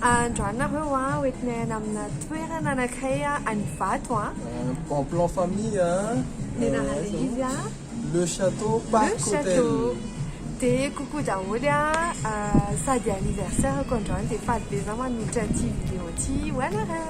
Androany nareo an, ho entinay any amina toerana anankiray any Ivato an. En plan famille an. Tena ralehivy an. Le château parc hotel. Le château. Dia coucou daholo an, sady anniversaire-ko androany dia faly be za manolotra ity vidéo ity ho anareo.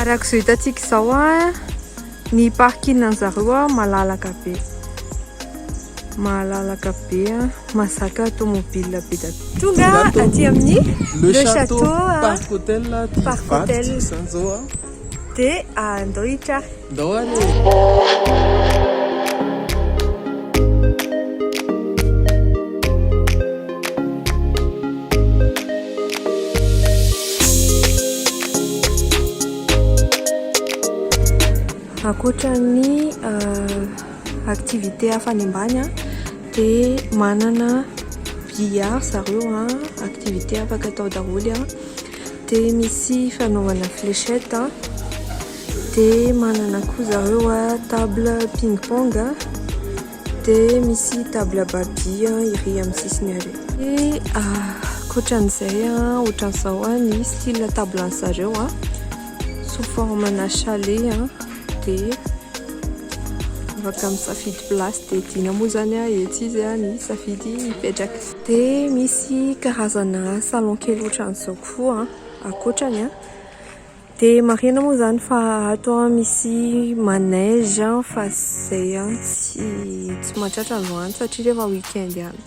Arak'izao hitantsika izao a, ny parking anjareo a malalaka be. Malalaka be a, mazaka tomobile be da tonga aty amin'ny Le Château Parc Hotel Parc Hotel. Dia andao hitra. Ndao ary e. Ankoatra ny activité hafa any ambany an, dia manana billard zareo an, activité afaka atao daholo an. Dia misy fanaovana fléchette a, dia manana koa zareo a table ping pong a, dia misy table babia iry amin'ny sisiny ary. Dia ankoatran'izay a, ohatran'izao a ny style table an'ny zareo a, sous forme ana chalet a, dia afaka misafidy place dia tiana moa zany a etsy izy a ny safidy hipetraka. Dia misy karazana salon kely ohatran'izao koa ankoatrany an. Dia marihina moa izany fa ato misy manège fa izay an tsy tsy mahatratra androany satria rehefa week-end ihany.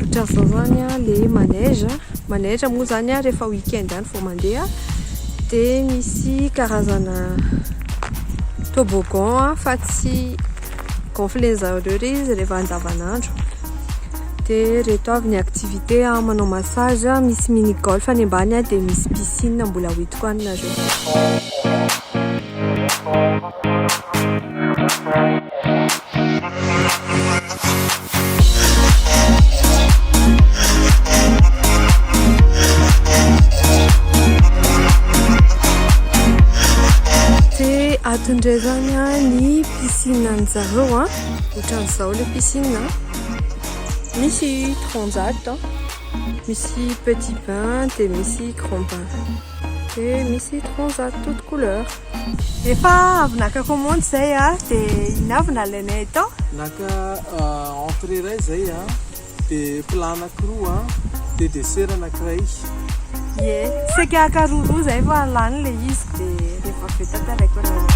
Ohatran'izao izany ilay manège. Manège moa izany an rehefa week-end ihany vao mandeha. Dia misy karazana toboggan fa tsy. gonfler zareo re izy rehefa andavanandro dia reto avy ny activité manao massage misy mini golf any ambany dia misy piscine mbola hoentiko any nareo Piscine anjareo a, otran'izao le piscine a. Misy transat a, misy petit bain de misy grand bain. De misy transat toute couleur. Efa avy naka commande zay a, de iny avy nalainay tao. Naka entrée iray zay a. Dia plat anakiroa an, dia dessert anakiray. Ie, saika haka roa roa izay fa lany ilay izy dia rehefa avy eo tantaraiko anareo.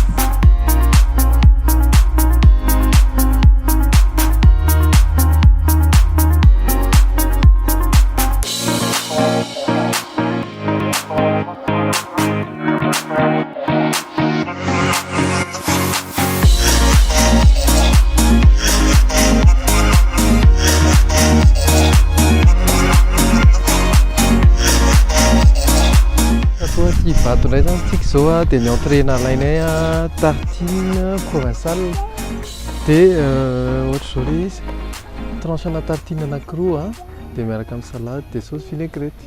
Zoa dia ny entrée nalainay a tartine provinciale dia euh, ohatra izao ilay izy tranche ana tartine anakiroa dia miaraka amin'ny salade dia sauce vinaigrette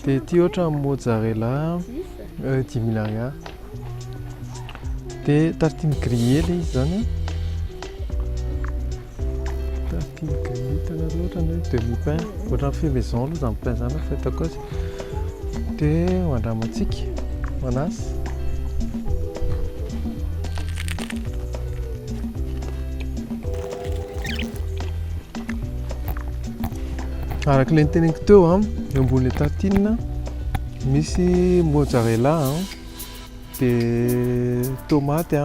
Dia ity ohatra ny mozzarella euh, dimy mille ariary. Dia tartine grillée ilay izy izany an. Tartine grillée hitanareo ohatra ny hoe demi pain. Ohatra ny fait maison aloha izany pain izany fa hitako azy. Dia ho andramantsika, manasa. Araka ilay niteneniko teo, eo ambonin'ilay tartine misy mozzarella, dia tomaty,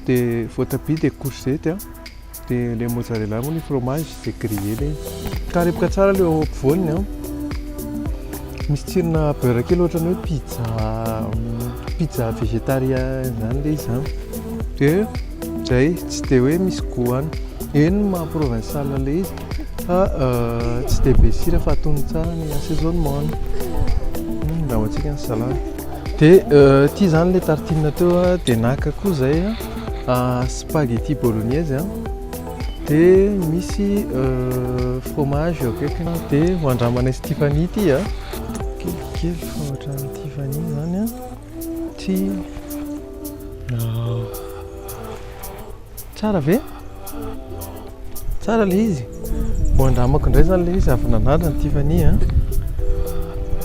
dia voatabia, dia courgette, dia ilay mozzarella moa ny fromage dia griller ilay izy. Karepoka tsara ilay eo ampovoany, misy tsirona beurre kely ohatran'ny hoe pizza pizza végétarien izany ilay izy. Zay tsy dia hoe misy goût any. Eny ny maha provincial ilay izy fa tsy dia be sira fa atono tsara ny assaisonnement-ny. Andrahoantsika ny salady. Dia ity izany ilay tartine teo dia naka koa izay spaghetti bolognaise dia misy fromage eo akaikiny. Dia ho andramanay sy Tiffany ity. Kelikely fa ohatran'ny Tiffany izany. Tsy tsara ve? Tsara ilay izy. Mbo andramako indray izany ilay izy avy nanandrana ny Tiffany a.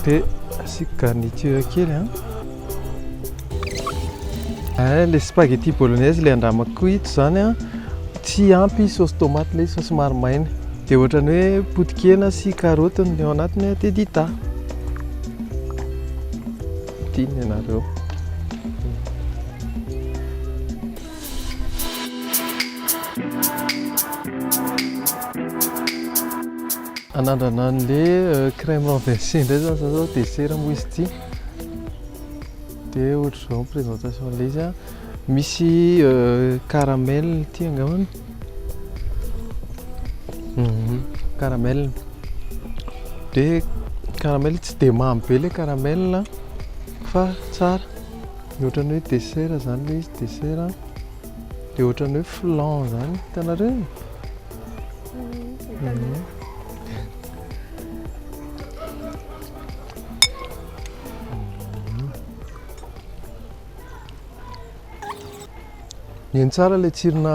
Dia asiako garniture kely a. Eh, ilay spaghetti bolognaise ilay andramako koa ito izany a. Tsy ampy sauce tomate ilay izy fa somary maina. Dia ohatran'ny hoe potikena sy karaoty no ao anatiny dia dita. Tiany ianareo. Anandrana an'le euh, crème renversée indray zany zao dessert moa izy ity. Dia ohatr'izao ny présentation an'ilay izy a. Misy euh, caramel ity angambany. Mhm, caramel. Dia caramel tsy dia mamy be ilay caramel a, fa tsara. Dia ohatran'ny hoe dessert izany ilay izy, dessert. Dia ohatran'ny hoe flan izany, hitanareo? Mhm. Mihaino tsara ilay tsirona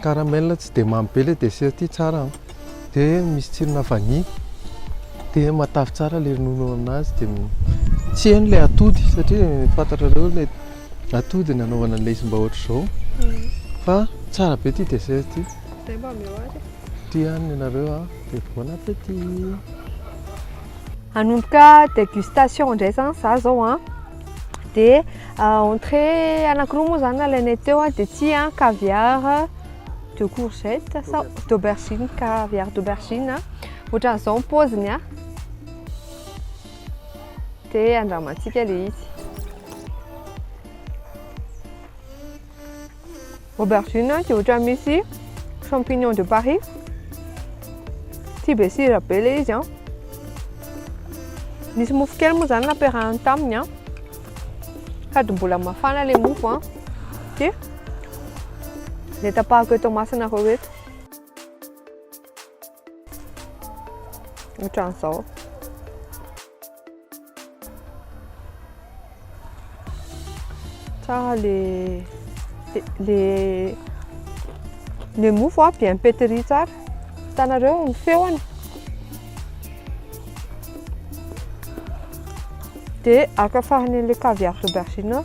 caramel tsy dia mamy be ilay dessert ity tsara an. Dia misy tsirona vanille. Dia matavy tsara ilay ronono ao aminazy dia tsy heno ilay atody satria fantatrareo ilay atody ny anaovana ilay izy mba ohatr'izao. Mm. Fa tsara be ity dessert ity. Dia mba meo ary. Tia any ianareo an. Dia bon appétit. Hanomboka dégustation indray zany za zao an. Dia entrée anankiroa moa izany nalainay teo dia ity an, caviar de courgette sa d'aubergine, caviar d'aubergine. Ohatran'izao ny paoziny an. Dia andramantsika ilay izy. Aubergine dia ohatran'ny misy champignon de Paris. Tsy be sira be ilay izy an. Nisy mofo kely moa izany nampiarahany taminy an. Sady mbola mafana ilay mofo an. Dia ny tapahako eto masina roa eto. Ohatran'izao. tsara le le le mofo a bien pétri tsara hitanareo ny feony de araka farany an'le caviar d'aubergine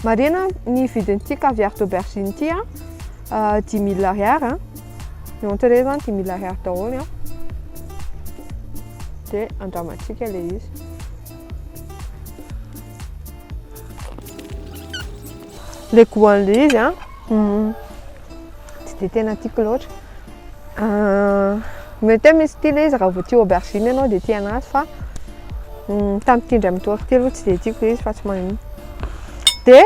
marihina ny vidin'ity caviar d'aubergine ity a dimy mille ariary a Ny entrée zany dimy mille ariary daholo an, dia andramantsika ilay izy. le goût an'le izy a hmm. tsy dia tena tiako loatra ah, mety hoe misy tia le izy raha vao tia aubergine ianao dia tia anazy fa hmm, tamin'ity indray mitory ity aloha tsy dia tiako le izy fa tsy magnino dia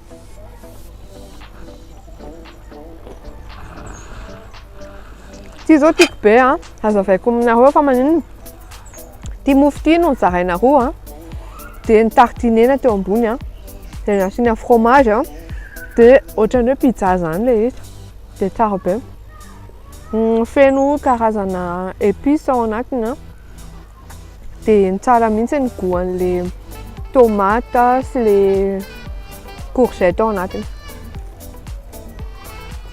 Ity izao tiako be a, hazavaiko aminareo fa maninona? Ity mofo ity no nozaraina roa a, dia ny tartinena teo ambony a, dia nasiana fromage a, dia ohatran'ny hoe pizza izany ilay izy, dia tsara be. Feno karazana épices ao anatiny a. Dia tsara mihitsy ny goût an'ilay tomate sy ilay courgette ao anatiny.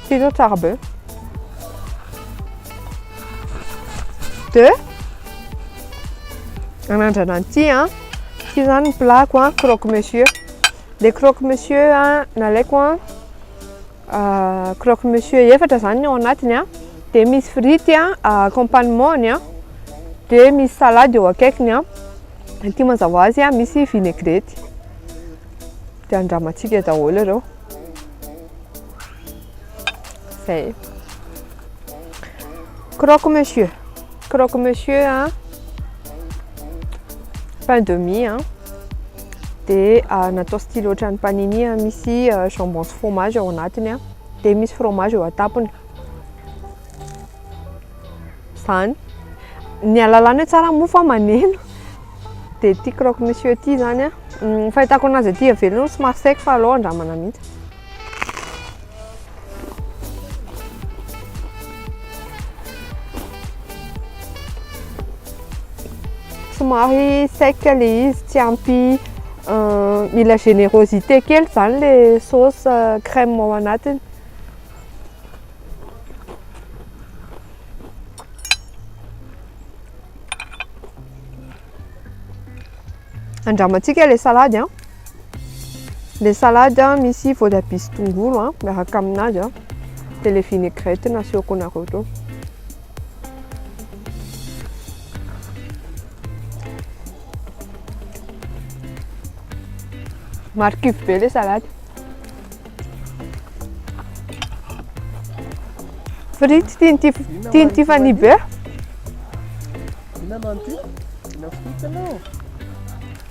Ity izao tsara be. Dia anandrana an'ity an. Ity izany ny plat-ko an, croque monsieur. Ilay croque monsieur nalaiko an. Croque monsieur efatra izany ny ao anatiny an, dia misy frity an, accompagnement-ny an, dia misy salade eo akaikiny an, ity mazava ho azy an misy vinaigrette, dia andramantsika daholo ireo, zay, croque monsieur, croque monsieur an, pain de mie an. dia natao style ohatran'ny panini misy jambon sy fromage ao anatiny dia misy fromage eo an-tampony izany ny alalana tsara moa fa maneno dia ity croque monsieur ity izany an fahitako anazy aty avelany somary sec fa aleo andramana mihitsy Somary sec le izy, tsy ampy mila générosité kely zany le sauce euh, crème ao anatiny. Andramantsika le salady an. Ah. Le salade a misy voatabia sy tongolo a miaraka aminazy a de le vinaigrette nasiako anareo teo. Marikivy be le salade. Frity tian'ity tian'ity fani be. Inona no an'ity? Inona frity anao?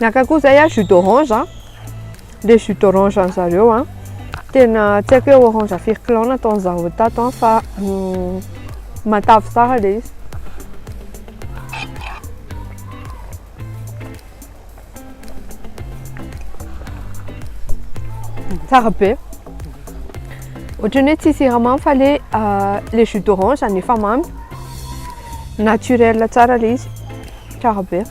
Naka koa zay a jus d'orange a. Le jus d'orange an zareo a. Tena tsy haiko hoe orange firy kilao nataony zareo tato a fa mm, matavy tsara le izy. Tsara be. Ohatran'ny hoe tsy siramamy fa le ah, le jus d'orange zany efa mamy. Naturel tsara le izy. Tsara be.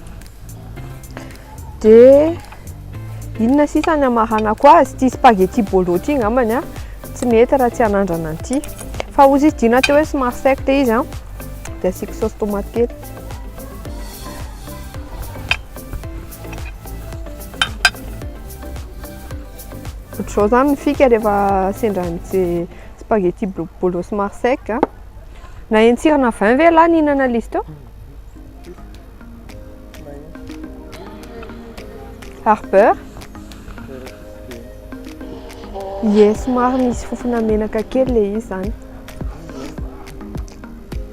Dia inona sisa ny amaranako azy? Ity spaghetti bolo ity angambany an, tsy mety raha tsy hanandrana an'ity. Fa hozy izy dina teo hoe somary sec le izy an, dia asiako saosy tomate kely. Ohatr'izao izany ny fika rehefa sendra ny spaghetti bolo somary sec. Naheno tsirana vin ve ialahy nihinana ilay izy teo? Ary beurre? Ie, somary misy fofona menaka kely ilay izy izany.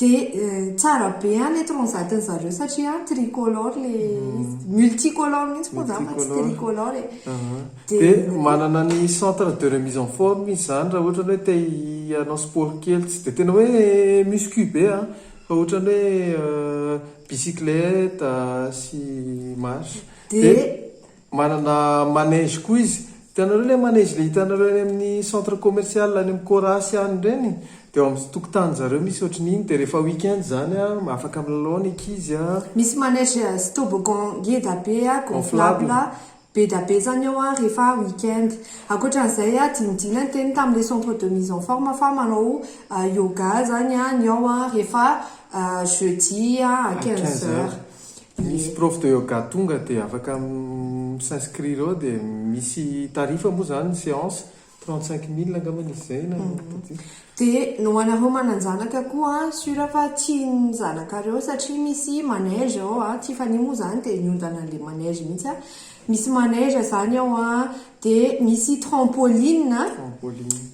Dia tsara be an le transat-ny zareo satria an tricolore le izy. Multicolore mihitsy moa izany fa tsy tricolore e. Dia manana ny centre de remise en forme izy izany raha ohatra ny hoe te hanao sport kely, tsy dia tena hoe muscu be an, fa ohatra ny hoe bicyclette sy marche. Dia Manana manège koa izy. Hitanareo ilay manège ilay hitanareo any amin'ny centre commercial any amin'ny Corasi any ireny? Dia ao amin'ny tokotanin-drizareo misy ohatran'ny iny dia rehefa week-end izany an, afaka milalao ny ankizy an. Misy manège sy toboggan ngeda be an, gonflable, bedabe izany eo an, rehefa week-end. Ankoatran'izay an, dinidina ny teniny tamin'ilay centre de mise en forme fa manao yoga izany an, ny ao an, rehefa jeudi an, à quinze heures. Misy prof de yoga tonga dia afaka mi s'inscrire ao dia misy tarif moa izany ny séance, trente cinq mille angamba izy izay na tadidio. Dia ny ho anareo manan-janaka koa an, sur fa tian'ny zanakareo satria misy manège ao an, tsy fania moa izany dia niodana an'ilay manège mihitsy an, misy manège izany ao an, dia misy trampoline,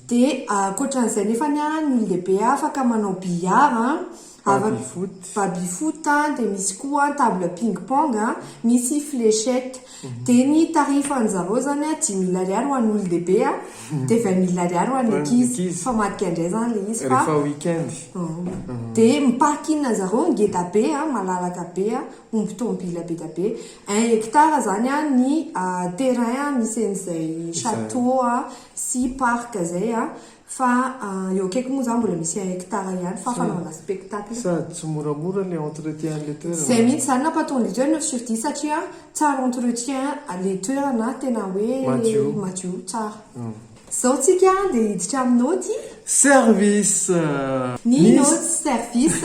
dia ankoatran'izay nefany an, ny olon-dehibe afaka manao billard an. Baby foot. Baby foot a, dia misy koa ny table ping pong a, misy fléchette. Dia ny tarifan-dry zareo izany a, dimy mille ariary ho an'ny olon-dehibe a, dia vingt mille ariary ho an'ny ankizy. Fa madika indray izany ilay izy fa. Rehefa week-end. Dia ny parking-dry zareo ngeda be a, malalaka be a, omby tomobila be dia be. Un hectare izany a ny terrain misy an'izay château a sy parc izay a. Fa eo akaiky moa zany mbola misy un hectare ihany fa fanaovana spectacle. Sady tsy moramora le entretien le toerana. Zay mihitsy zany napatonga eto zany sur dix satria tsara entretien le toerana tena hoe madio tsara. Zao tsika dia hiditra amin'ny naoty. Service! Ny naoty service.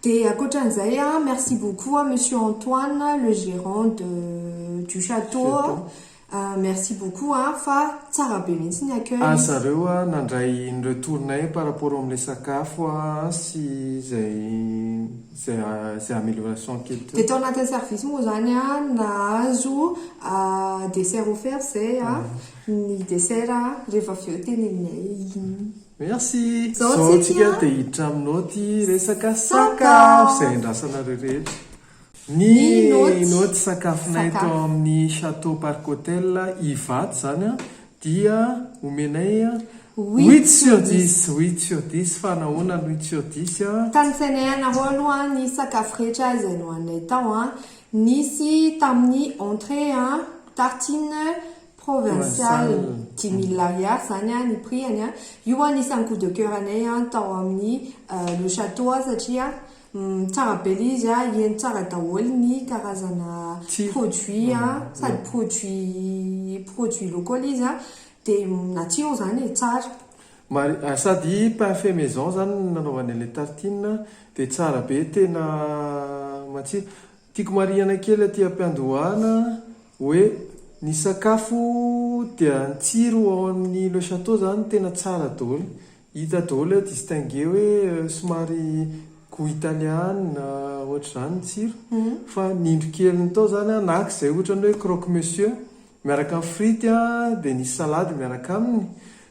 Dia ankoatran'izay a, merci beaucoup à Monsieur Antoine, le gérant de du château a, merci beaucoup a, fa tsara be mihitsy ny accueil. Ary zareo a, nandray ny retour-nay par rapport amin'ilay sakafo a, sy izay izay izay amélioration kely teo. Dia tao anatin'ny service moa izany a, nahazo dessert offert izay a, ny dessert a, rehefa avy eo teneninay iny. Merci! Zao tsika dia hiditra amin'ny naoty resaka sakafo izay andrasanareo rehetra. Ny naoty sakafonay tao amin'ny Château Parc Hotel Ivato izany an, dia omenay huit sur dix, huit sur dix, fa nahoana ny huit sur dix an? Tanisainay anareo aloha ny sakafo rehetra izay nohaninay tao an, nisy tamin'ny entrée an, tartines, provincial dimy mille ariary zany an ny prix any an, io an isan'ny coup de coeur anay an tao amin'ny le chateau an satria tsara be le izy an heno tsara daholo ny karazana produit an sady produit produit local izy an de natsiro zany e tsara. Mari sady pain fait maison zany nanaovanay le tartine dia tsara be tena matsiro. Tiako marihana kely aty am-piandohana hoe ny sakafo dia ny tsiro ao amin'ny Le Château izany tena tsara daholo. Hita daholo hoe distinguer hoe somary goût italiana ohatr'izany ny tsiro. Fa ny indro keliny tao izany na izay ohatran'ny hoe croque monsieur miaraka amin'ny frity dia nisy salady miaraka aminy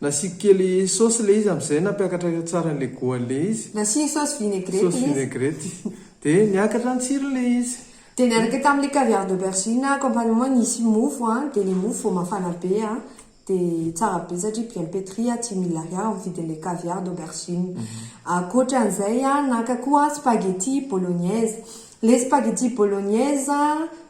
Nasiako kely saosy le izy amzay nampiakatra tsara anle goany le izy. Nasiany saosy vinaigrette le izy. Saosy vinaigrette. De niakatra ny tsirony le izy. De niaraka tamle caviar de persil na accompagnement nisy mofo a, de le mofo vao mafana be a, de tsara be satria bien petri a, dimy mille ariary ny vidinle caviar de persil. Akoatranzay a naka koa spaghetti bolognaise. Le spaghetti bolognaise.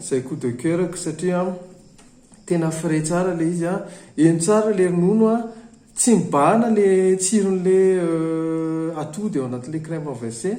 Zay coup de coeur ko satria tena frais tsara ilay izy an, heno tsara ilay ronono an, tsy mibahana ilay tsiron'ilay atody ao anatin'ilay crème renversé,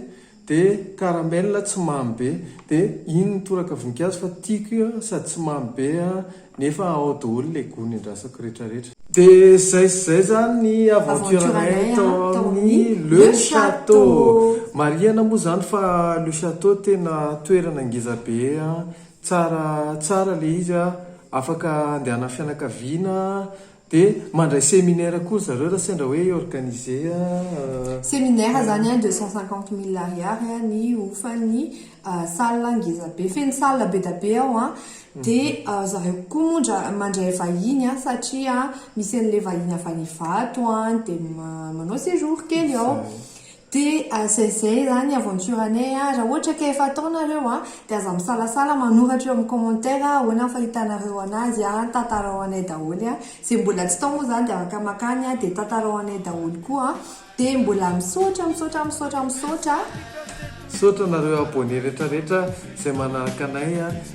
dia caramel tsy mamy be, dia iny mitoraka voninkazo fa tiako io an, sady tsy mamy be an. Nefa ao doholy le gony andrasako retra retra. De zay sy zay zany ny aventure anay tao amin'ny Le Château. Marihana moa zany fa Le Château tena toerana ngeza be an, tsara tsara le izy an, afaka andehanan'ny fianakaviana, Dia mandray seminaire koa ry zareo raha sendra hoe hi-organiser a. Seminaire zany an deux cent cinquante mille ariary ny hofan'ny salle ngeza be, feno salle be da be ao an, dia zareo koa moa ndra mandray vahiny an satria misy an'ilay vahiny avy any Ivato an dia manao séjour kely ao. De aza izay izany aventure anay a! Raha ohatra ka efa atao nareo a, de aza misalasala manoratra eo amin'ny commentaire a, ahoana ny fahitanareo anazy a, tantarao anay daholo a! Izay mbola tsy tao moa izany de afaka makany a, de tantarao anay daholo koa a! De mbola misaotra, misaotra, misaotra, misaotra a! Misaotra anareo abonné retraretra izay manaraka anay a!